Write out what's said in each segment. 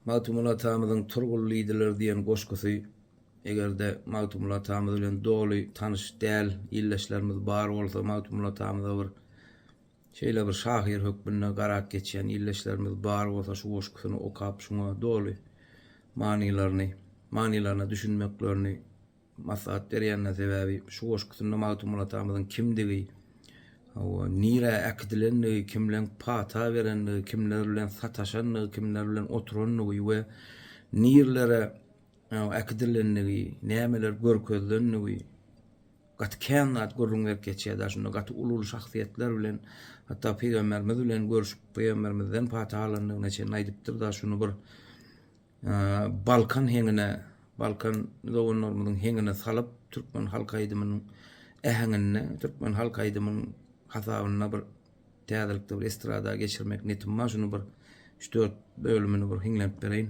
Magtymguly atamyzyň Turgul diýdiler diýen goşgusy Eger-de Magtymguly atamyz bilen doly tanyş däl ildeşlerimiz bar bolsa, Magtymguly atamyza bir şeýle bir şahyr hökmünde garap geçýän ildeşlerimiz bar bolsa şu goşgusyny okap şuňa doly manylaryny manylaryna düşünmeklerini maslahat berýänler sebäbi şu goşgusynda Magtymguly atamyzyň kimdigi, hawa, nirä äkidilendigi, kimleň pata berendigi, kimler bilen sataşandygy, kimler bilen oturandygy we nirelere äkidilendigi, nämeler görkezilendigi gaty kän zat gürrüň berip geçýär da şunda gaty uly-uly şahsyýetler bilen hatda pygamberimiz bilen görüşip pygamberimizden pata alandygyna çenli aýdypdyr da şuny bir Balkan heňine, Balkan doganlarymyzyň heňine salyp, türkmen halk aýdymynyň äheňinde, türkmen halk aýdymyň hasabynda bir täzelikde bir estrada geçirmek netim bar. Şuny bir üç-dört bölümini bir hiňlenip bereýin.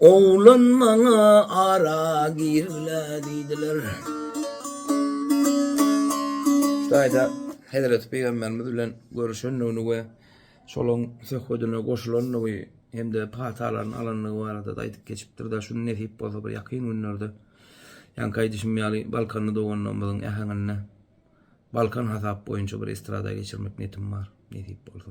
Oglan maňa ara girme diýdiler. Şu taýda Hezreti Pygamberimiz bilen görüşendigini we şolaň söhbedine goşulandygy hem-de patalaryny alandygy barada-da aýdyp geçipdir-de, şuny nesip bolsa bir ýakyn günlerde, ýaňky aýdyşym ýaly balkanly doganlarymyzyň äheňinde Balkan hasap boýunça bir estrada geçirmek niýetim bar, nesip bolsa.